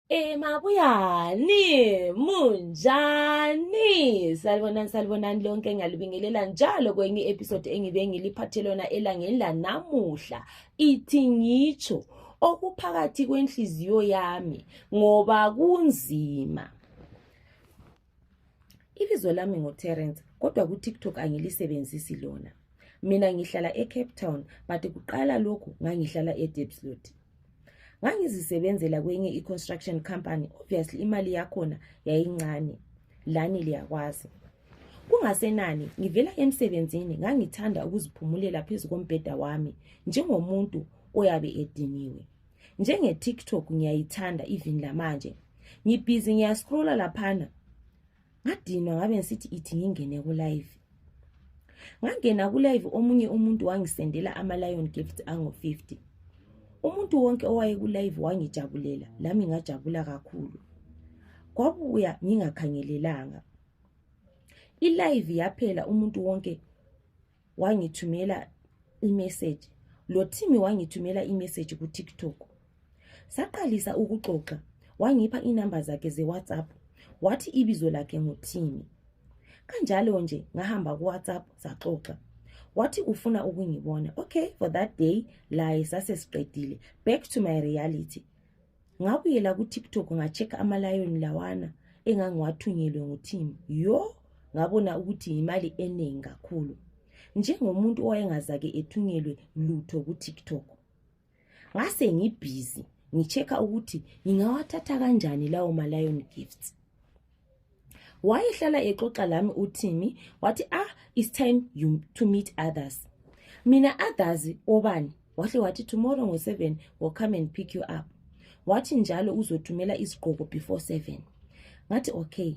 E mabuyani munjani salibonani salibonani lonke ngalibingelela njalo kwenye episode engibe ngiliphathe lona elangeni lanamuhla ithi ngitsho okuphakathi kwenhliziyo yami ngoba kunzima ibizo lami nguterence kodwa kutiktok angilisebenzisi lona mina ngihlala ecape town but kuqala lokhu ngangihlala edebslot ngangizisebenzela kwenye i-construction company obviously imali yakhona yayincane lani liyakwazi kungasenani ngivela emsebenzini ngangithanda ukuziphumulela phezu kombheda wami njengomuntu oyabe ediniwe njenge-tiktok ngiyayithanda even lamanje ngibhizi ngiyascrolla laphana ngadinwa ngabe ngisithi ithi ngingene kulive ngangena kulive omunye umuntu wangisendela ama-lion gift angu-50 umuntu wonke owayekulive wangijabulela lami ngajabula kakhulu kwabuya ngingakhangelelanga ilive yaphela umuntu wonke wangithumela imessage lothimi wangithumela imessage kutiktok saqalisa ukuxoxa wangipha inamba zakhe zewhatsapp wathi ibizo lakhe nguthimi kanjalo nje ngahamba kuwhatsapp saxoxa wathi ufuna ukungibona okay for that day laye sasesiqedile back to my reality ngabuyela kutiktok ngachecka amalayoni lawana engangiwathunyelwe ngutim yo ngabona ukuthi yimali eningi kakhulu njengomuntu owayengazake ethunyelwe lutho kutiktok ngase ngibhizi ngichecka ukuthi ngingawathatha kanjani lawo malayoni gifts wayehlala exoxa lami uthimi wathi ah it's time you to meet others mina others obani wahle wathi tomorrow ngo-seven will come and pick you up wathi njalo uzothumela izigqoko before seven ngathi okay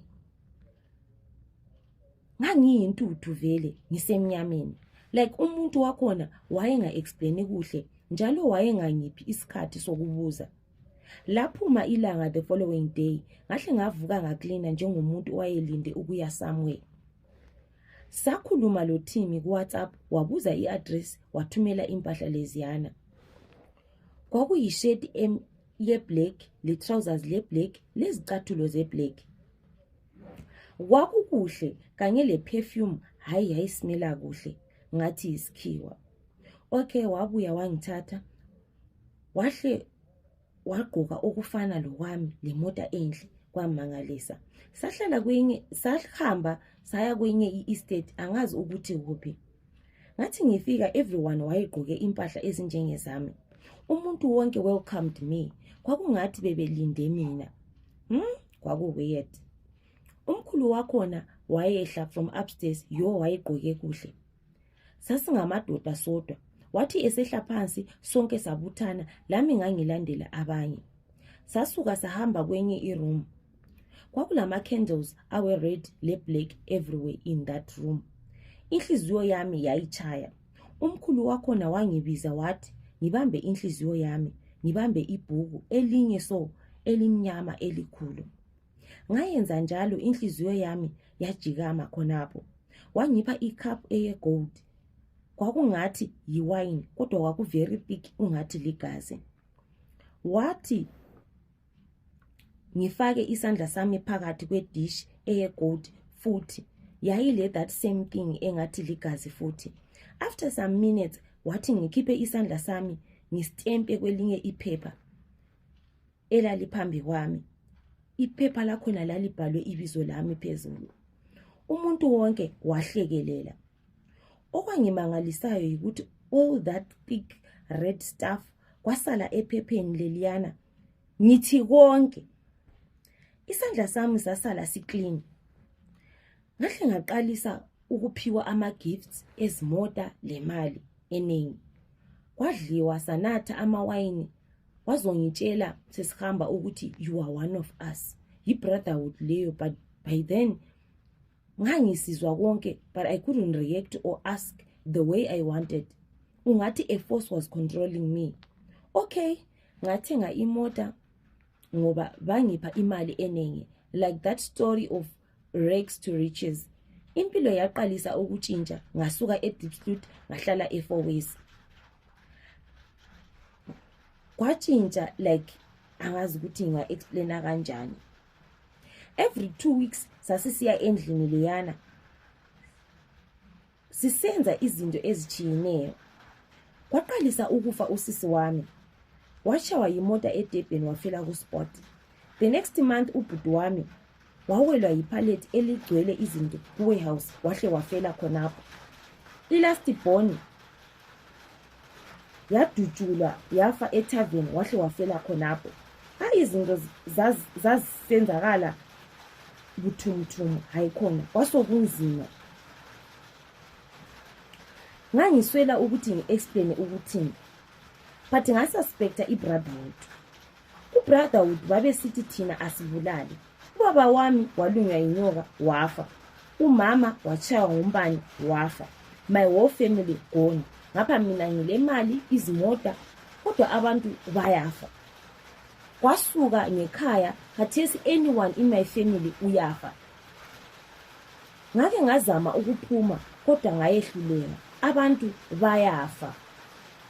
ngangiyintuthu vele ngisemnyameni like umuntu wakhona wayenga-explaini kuhle njalo wayengangiphi isikhathi sokubuza so laphuma ilanga the following day ngahle ngavuka ngaklina njengomuntu owayelinde ukuya somewhere sakhuluma lo thimi kuwhatsapp wabuza i-address wathumela impahla leziyana kwakuyisheti yeblack letrousers leblack lezicathulo zeblack kwakukuhle kanye leperfume hhayi yayisimela kuhle ngathi yisikhiwa okay wabuya wangithatha wahle wagqoka okufana lokwami lemota enhle kwamangalisa sahlala kwinye sahamba saya kwinye i-estate angazi ukuthi kuphi ngathi ngifika everyone wayegqoke impahla ezinjengezami umuntu wonke welcomed me kwakungathi bebelinde mina hmm? kwakuweird umkhulu wakhona wayehla from upstairs yo wayegqoke kuhle sasingamadoda sodwa wathi esehla phansi sonke sabuthana lami ngangilandela abanye sasuka sahamba kwenye iroom kwakulama-candles awe-red le-black everywhere in that room inhliziyo yami yayitshaya umkhulu wakhona wangibiza wathi ngibambe inhliziyo yami ngibambe ibhuku elinye so elimnyama elikhulu ngayenza njalo inhliziyo yami yajikama khonapho wangipha icup eyegold kwakungathi yiwayini kodwa kwakuvery thick ungathi ligazi wathi ngifake isandla sami phakathi kwedish eyegold futhi yayile that same thing engathi ligazi futhi after some minutes wathi ngikhiphe isandla sami ngistempe kwelinye iphepha elaliphambi kwami iphepha lakhona lalibhalwe ibizo lami phezulu umuntu wonke wahlekelela okwangimangalisayo yikuthi all that thick red stuff kwasala ephepheni leliyana ngithi konke isandla sami sasala siklini ngahle ngaqalisa ukuphiwa ama-gifts ezimota lemali eningi kwadliwa sanatha amawayini wazongitshela sesihamba ukuthi you are one of us yi-brotherhood leyo but by then ngangisizwa konke but i couldn't react or ask the way i wanted ungathi a force was controlling me okay ngathenga imota ngoba bangipha imali eningi like that story of rags to riches impilo yaqalisa ukutshintsha ngasuka edipslut ngahlala efour ways kwatshintsha like angazi ukuthi nginga-explaina kanjani every two weeks sasisiya endlini leyana sisenza izinto ezitshiyeneyo kwaqalisa ukufa usisi wami washawa yimota edebheni wafela kuspot the next month ubhuti wami wawelwa yiphalet eligcwele izinto kuwarehouse wahle wafela khonapho ilast boni yadutshulwa yafa ethaveni wahle wafela khonapho hayi izinto zazisenzakala buthumuthumu hayi khona kwasokunzima ngangiswela ukuthi ngi-explaine ukuthini but ngasuspecta ibrotherhood ubrotherhood babesithi thina asibulali Ubaba wami walunywa yinyoka wafa. Umama watshaywa ngumbane wafa. My whole family gone. Ngapha mina ngilemali, izimota, kodwa abantu bayafa. Kwasuka ngekhaya, khathesi anyone in my family uyafa. ngake ngazama ukuphuma kodwa ngayehluleka abantu bayafa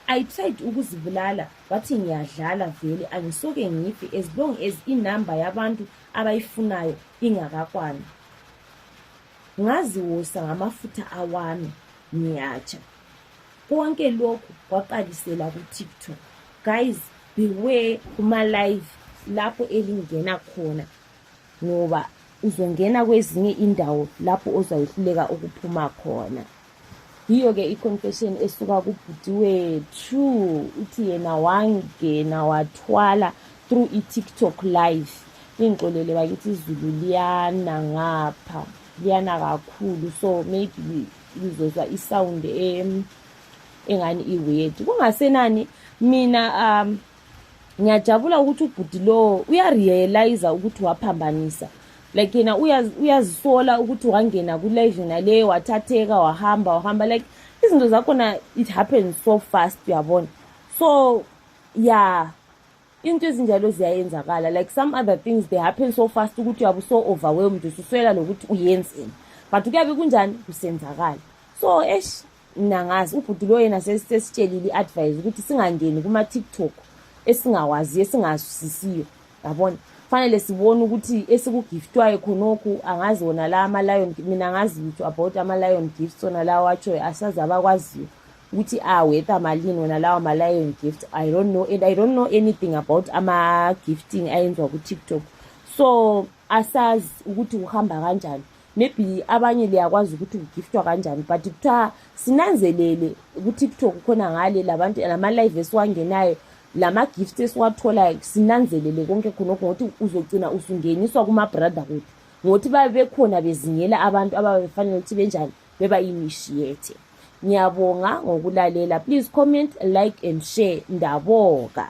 i tried ukuzibulala wathi ngiyadlala vele angisoke ngife as long as inumber yabantu abayifunayo ingakakwani ngaziwosa ngamafutha awami ngiyatsha konke lokhu kwaqalisela kutiktok guys beware kuma-live lapho elingena khona ngoba uzongena kwezinye indawo lapho ozayehluleka ukuphuma khona yiyo ke i-confession esuka kubhuti wethu uthi yena wangena wathwala through i-tiktok live ingixolele bakithi izulu liyana ngapha liyana kakhulu so maybe ngizozwa isawundi engani iwedi kungasenani mina um ngiyajabula ukuthi ubhuti lowo uyarealiza ukuthi waphambanisa like yena uyazisola ukuthi wangena kulive yona leyo wathatheka wahamba wahamba like izinto zakhona it happens so fast uyabona so ya into ezinjalo ziyayenzakala like some other things they happen so fast ukuthi uyabe uso overwhelmed ususwela lokuthi uyenzeni but kuyabe kunjani kusenzakala so esh Mina ngazi ubhuti lo yena sesitshelile i-advise ukuthi singangeni kuma-tiktok esingawazi esingazwisisiyo yabona fanele sibone ukuthi esikugiftwayo khonokhu angazi wona la ama-lion mina ngazi lutho about ama-lion gift sona lawo atshoyo asazi abakwaziyo ukuthi awetha malini wona lawo ma-lion gift i don't know and i don't know anything about ama-gifting ayenziwa ku-tiktok so asazi ukuthi kuhamba kanjani maybe abanye liyakwazi ukuthi kugiftwa kanjani but kuthiwa sinanzelele kutiktok khona ngale labantu lama-live esiwangenayo lama-gift esiwatholayo sinanzelele konke khonokho ngokuthi uzogcina usungeniswa kuma-brother kuthi ngokuthi babe bekhona bezingela abantu ababe befanele ukuthi benjani beba initiate ngiyabonga ngokulalela please comment like and share ndaboka